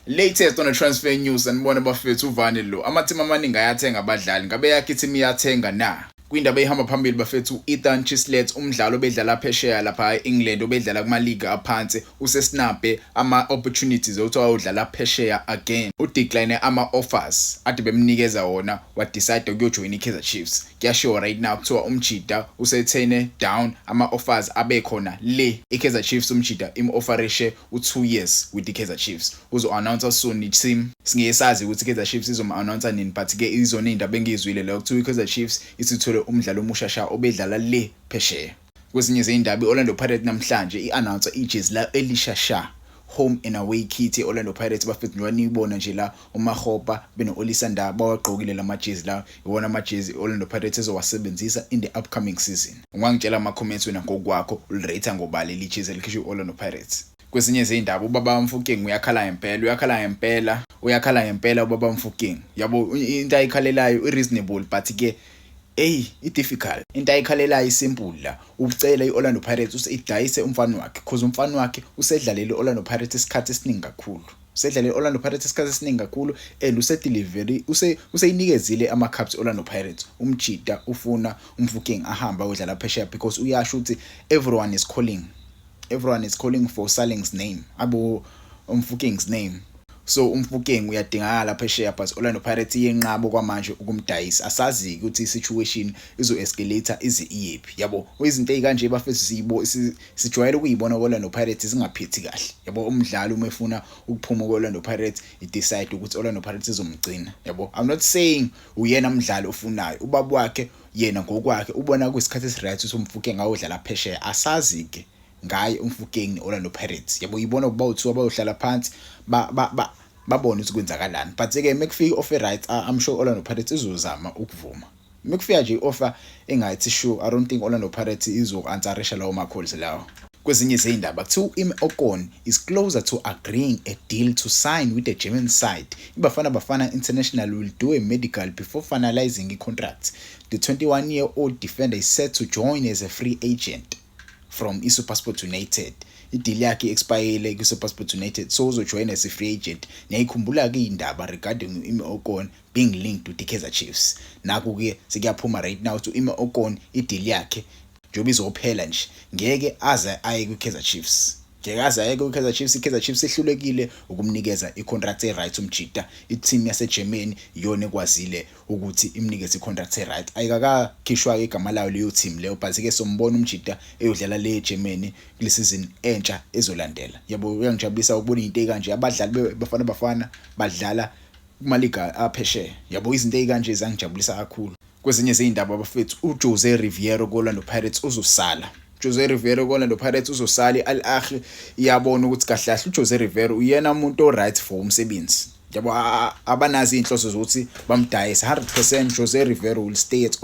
Latest on the transfer news sanibona bafethu uvani lo amathimu amaningi ayathenga abadlali ngabe yakhe ithimu iyathenga na kwindaba ehamba phambili bafethu u-ethan chislet umdlalo obedlala phesheya lapha e-england obedlala kumaliga aphansi usesinabe ama-opportunities okuthi wayodlala phesheya again udecline ama-offers ade bemnikeza wona wadecide ukuyojoyina i-kaizer chiefs kuyashiwo right now kuthiwa umjida usethene down ama-offers abekhona le i-kaizer chiefs umjida im-offerishe u-two years with i-kaizer chiefs uzo-announcer soon i-team singeke sazi ukuthi i-kaizer chiefs izom-announcer nini but-ke izona iy'nto abengiyizwile leyo kuthiwa i-kaizer chiefs isithole umdlali omusha sha obedlala le phesheya kwezinye zey'ndaba i-orlando pirate namhlanje i-announcer ijezi layo elisha sha home and away kit e-orlando pirates bafethu njengoba niyibona nje la uMakgopa beno-Olisa Ndah bawagqokile la majezi lawa iwona amajezi i-Orlando Pirates ezowasebenzisa in the upcoming season. Ungangitshela ama-comments wena ngokwakho uli-rate-a ngoba leli jezi elikhishwe i-Orlando Pirates. Kwezinye zey'ndaba ubaba Mfokeng uyakhala ngempela, uyakhala ngempela, uyakhala ngempela ubaba Mfokeng. Yabo into ayikhalelayo i-reasonable but ke eyi i-difficult. Into ayikhalelayo i-simple la, ucela i-Orlando Pirates ukuthi idayise umfana wakhe cause umfana wakhe usedlalele i-Orlando Pirates isikhathi esiningi kakhulu. Usedlale i-Orlando Pirates isikhathi esiningi kakhulu and usedelivery use useyinikezile ama cups Orlando Pirates. Umjita ufuna umfuking ahambe ayodlala phesheya because uyasho ukuthi everyone is calling. Everyone is calling for Saling's name. Abo umfuking's name. So umfuking uyadingakala phesheya but Orlando Pirates yenqabo kwamanje ukumdayisa. Asazi ukuthi i situation izo escalator ize iyephi. Yabo izinto ezikanje bafethu siyibo sijwayele ukuyibona ko-orlando pirates zingaphethi kahle yabo umdlali uma efuna ukuphuma ko-orlando pirates idecide ukuthi orlando pirates izomgcina yabo i'm not saying uyena mdlali ofunayo ubaba wakhe yena ngokwakhe ubona kuyisikhathi esiright ukuthi umfuke ngawo udlala phesheya asazi-ke ngaye umfukeng ne-orlando pirates yabo yibona ukuba uthiwa bayohlala phansi babone ukuthi kwenzakalani but-ke uma kufika i-offer right i'm sure orlando pirates izozama ukuvuma Uma kufika nje i-offer engathi shu, I don't think Orlando Pirates izoku-ansarisha lawo ma-calls lawo. Kwezinye izindaba kuthiwa u-Ime Okon is closer to agreeing a deal to sign with the German side. IBafana Bafana International will do a medical before finalising i-contract. The 21-year-old defender is set to join as a free agent from iSuperSport United. Idili yakhe i-expayile kwiSuperSport United so uzojoyina as a free agent. Niyayikhumbula-ke indaba regarding u-Ime Okon being linked with iKaizer Chiefs naku ke sekuyaphuma right now to Ima Okon ideal yakhe njengoba izophela nje ngeke aze aye kwiKaizer Chiefs ngeke aze aye kwiKaizer Chiefs iKaizer Chiefs ihlulekile ukumnikeza icontract eright umjita iteam yaseGermany iyona ekwazile ukuthi imnikeze icontract eright ayikakakhishwa igama layo leyo team leyo but ke sombona umjita eyodlala le eGermany kule season entsha ezolandela yabo uyangijabulisa ukubona into ekanje abadlali bafana bafana badlala kumaliga aphesheya yabo izinto ezikanje zangijabulisa kakhulu kwezinye zeyindaba abafethu uJose Riviero koLando Pirates uzosala Jose Rivero kona lo Pirates uzosala i-Al Ahly iyabona ukuthi kahle kahle uJose Rivero uyena umuntu oright for umsebenzi yabo abanazi inhloso zokuthi bamdayise 100% Jose Rivero will stay at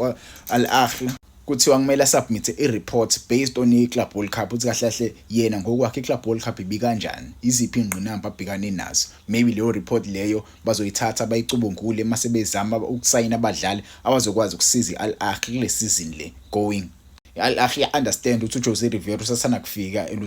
Al Ahly kuthiwa kumele asubmithe i-report based on i-club world cup ukuthi kahle kahle yena ngokwakhe i-club world cup ibikanjani iziphi ingqinamba abhekane nazo maybe leyo report leyo bazoyithatha bayicubungule uma sebezama ukusayina abadlali abazokwazi ukusiza i-al ahli kule sizini le going i-al ahli ya-understand ukuthi ujose rivero usathanda kufika and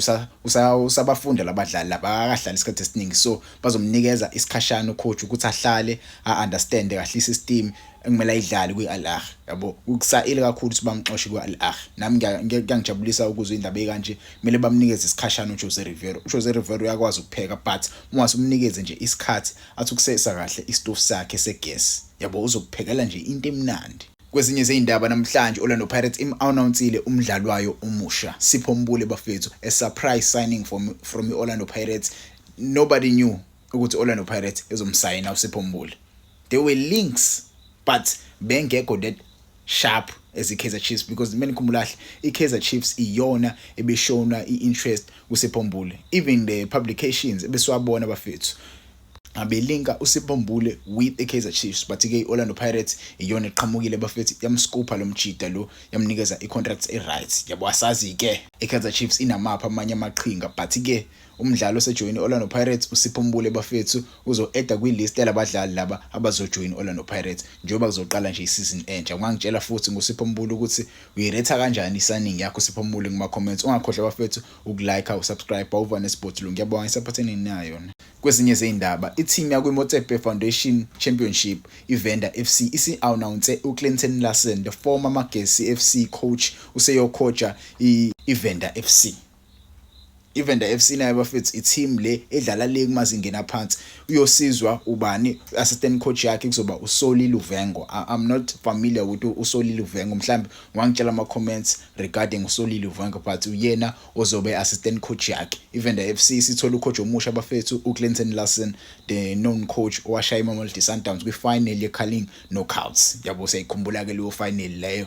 usabafunda labadlali laba akahlali isikhathi esiningi so bazomnikeza isikhashana ucoach ukuthi ahlale a-understande kahle i-system ekumele ayidlale kwi-Al Ahly yabo ukusayile kakhulu ukuthi bamxoshe kwi-Al Ahly nami kuyangijabulisa ukuzwa indaba ekanje kumele bamnikeze isikhashana uJose Riveiro uJose Riveiro uyakwazi ukupheka but uma simnikeze nje isikhathi athi ukusesa kahle istofu sakhe segesi yabo uzokuphekela nje into emnandi Kwezinye zeindaba namhlanje Orlando Pirates im-announcile umdlali wayo omusha Sipho Mbule bafethu a surprise signing from from i-Orlando Pirates nobody knew ukuthi Orlando Pirates izomsayina uSipho Mbuli there were links but bengekho that sharp as iKaizer Chiefs because mina ngikhumbulahle iKaizer Chiefs iyona ebeshona iinterest kuSipho Mbuli even the publications ebesiwabona bafethu abelinka uSipho Mbule with iKaizer Chiefs but ke iOrlando Pirates iyona eqhamukile bafethi yamscopa lomjida lo yamnikeza icontract eright yabo asazi ke iKaizer Chiefs inamapha amanye amaqhinga but ke Umdlali osejoyine i-Orlando Pirates uSipho Mbule bafethu uzo-eda kwi-list yalabadlali laba abazojoyina i-Orlando Pirates njengoba kuzoqala nje isizini entsha. Ungangitshela futhi ngoSipho Mbule ukuthi uyiretha kanjani i-signing yakho Sipho Mbule kuma-comments. Ungakhohlwa bafethu uku-like, uku-subscribe, uwuva nesibhodulungu. Ngiyabonga ngisaphathe nini nayo. Kwezinye zey'ndaba, ithimu yakwiMotsepe Foundation Championship, iVenda FC, isi-anawunse uClinton Larsen, the former Magesi FC coach, useyokhoja iVenda FC. iVenda FC nayo bafethu i-team le edlala le kumazingeni aphansi uyosizwa ubani assistant coach yakhe kuzoba uSoli Luvengo I'm not familiar with uSoli Luvengo mhlambe wangitshela ama comments regarding uSoli Luvengo but uyena ozobe assistant coach yakhe iVenda FC sithola ucoach omusha bafethu uClinton Larson the known coach owashaya iMamelodi Sundowns kwifinal yeCarling Knockouts yabo siyayikhumbula ke leyo final leyo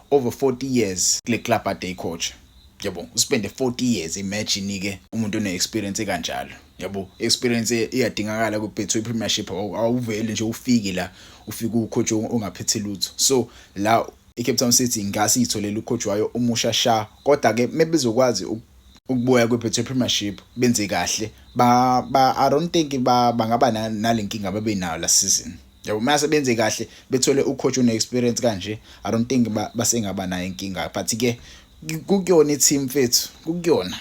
over 40 years kule club ade icoach yabo uspende 40 years imagine ke umuntu one experience kanjalo yabo experience iyadingakala ku Betway Premiership awuveli nje ufiki la ufika ucoach ongaphethe lutho so la iCape Town City ngase itholela ucoach wayo umusha sha kodwa ke mebezokwazi ukubuya kweBetway Premiership benze kahle ba, ba I don't think ba bangaba nalenkinga babenayo last season yabo mase benze kahle bethole ucoach une experience kanje i don't think basengaba nayo inkinga but ke kukuyona i-team fethu kukuyona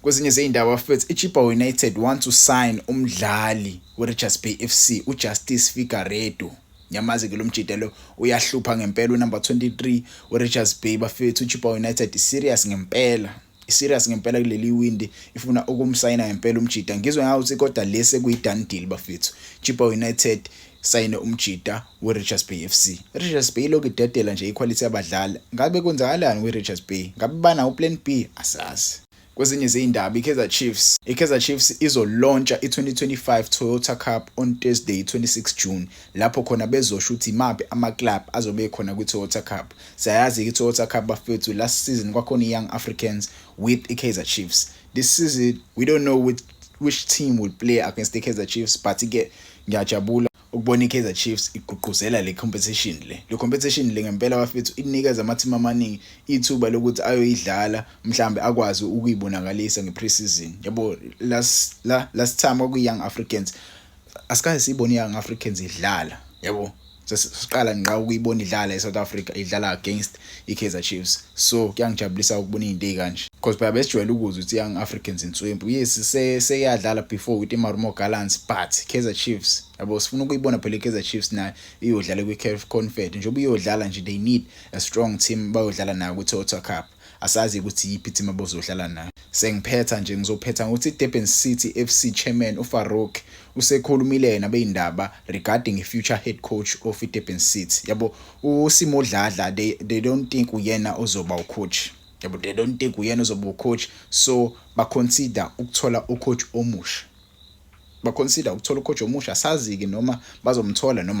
kwezinye zey'ndaba fethu ichipa united want to sign umdlali werichards bay f c ujustice figaredo nyamazi ke lo mjita lo uyahlupha ngempela unumber 23 werichards bay bafethu uchipa united serious ngempela serious ngempela kuleli windi ifuna ukumsayina ngempela umjita ngizwe ngawo ukuthi kodwa lese kuyi-done deal bafethu chipa united sayine umjita we-richards bay f c richards bay ilokhu idedela nje ikhwalithi yabadlali ngabe kwenzakalani kwi-richards bay ngabe banawo uplan b asazi kwezinye zeyindaba ikaizer chiefs ikaizer chiefs izolontsha i-2025 toyota cup on thursday 26 june lapho khona bezosho ukuthi imaphi amaclub azobe ekhona kwi-toyota cup Siyayazi iToyota Cup bafethu last season kwakhona iYoung Africans with iKaizer Chiefs. This season we don't know which, which team will play against the Kaizer Chiefs but ke ngiyajabula ukubona iKaizer Chiefs igqugquzela le competition le. Le competition le ngempela bafethu inikeza amathimba amaningi ithuba lokuthi ayoyidlala mhlambe akwazi ukuyibonakalisa ngepreseason. Yabo last la last time kwakuyi Young Africans asikaze sibone iYoung Africans idlala. Yabo sesiqala ngqa ukuyibona idlala eSouth Africa idlala against iKaizer Chiefs so kuyangijabulisa ukubona izinto ezikanje because phela besijwayele ukuzwa ukuthi young Africans inswempu yes seyadlala before with iMarumo Gallants but Kaizer Chiefs yabo sifuna ukuyibona phela iKaizer Chiefs nayo iyodlala kwiCaf Confed njengoba iyodlala nje they need a strong team bayodlala nayo kuToyota Cup Asazi ukuthi yiphi team abozodlala nayo. Sengiphetha nje ngizophetha ngokuthi iDurban City FC chairman uFarouk usekhulumile yena beyindaba regarding ifuture head coach of iDurban City. Yabo uSimo Dladla they, they don't think uyena ozoba ucoach. Yabo they don't think uyena ozoba ucoach so baconsider ukuthola ucoach omusha. Baconsider ukuthola ucoach omusha sazi-ke noma bazomthola noma